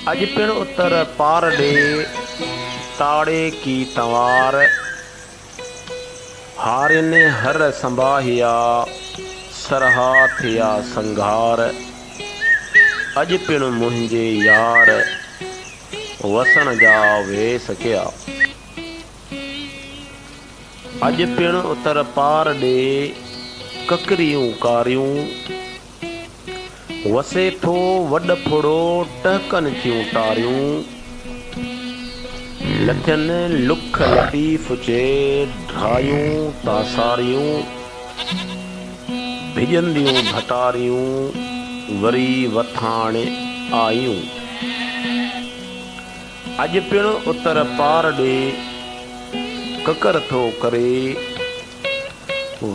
اڄ پڻ اتر پار ڏي، تاڙي ڪي تنوار. هارين هر سنباهيا، سرها ٿيا سنگهار. اڄ پڻ منهنجي يار، وسڻ جا ويس ڪيا. اڄ پڻ اتر پار ڏي، ڪڪريون ڪاريون. وسي ٿو وڏ ڦڙو ٽهڪن ٿيون ٽاريون، لٿين لک لطيف چي ڍرايون تاساريون، ڀڄنديون ڀٽاريون وري وٿاڻ آيون. اڄ پڻ اتر پار ڏي ڪڪر ٿو ڪري.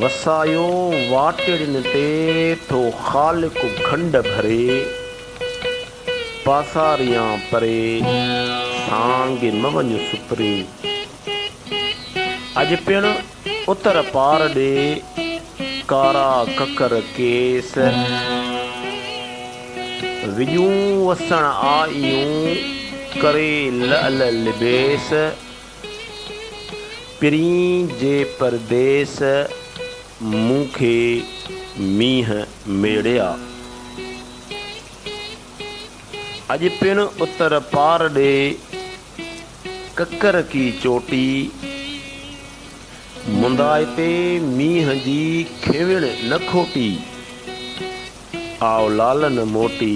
وسايو واٽڙين تي ٿو خالق کنڊ ڀري، پاساريان پري سانگي مه وڃ سپري. اڄ پڻ اتر پار ڏي ڪارا ڪڪر ڪيس، وڄون وسڻ آئيون ڪري لعل لبيس. پرين جي پرديس مون کي مينهن ميڙيا. اڄ پڻ اتر پار ڏي ڪڪر ڪي چوٽي مندائتي مينهن جي کيوڻ نه کوٽي. آء لالن موٽي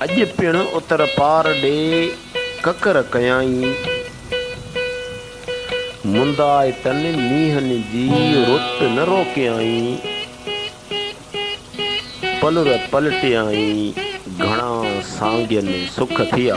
اڄ پڻ اتر پار ڏي ڪڪر ڪيائين. مندائتن مينهن جي رت نه روڪيائين. پلر پلٽيائين گهڻا سانگين سک ٿيا.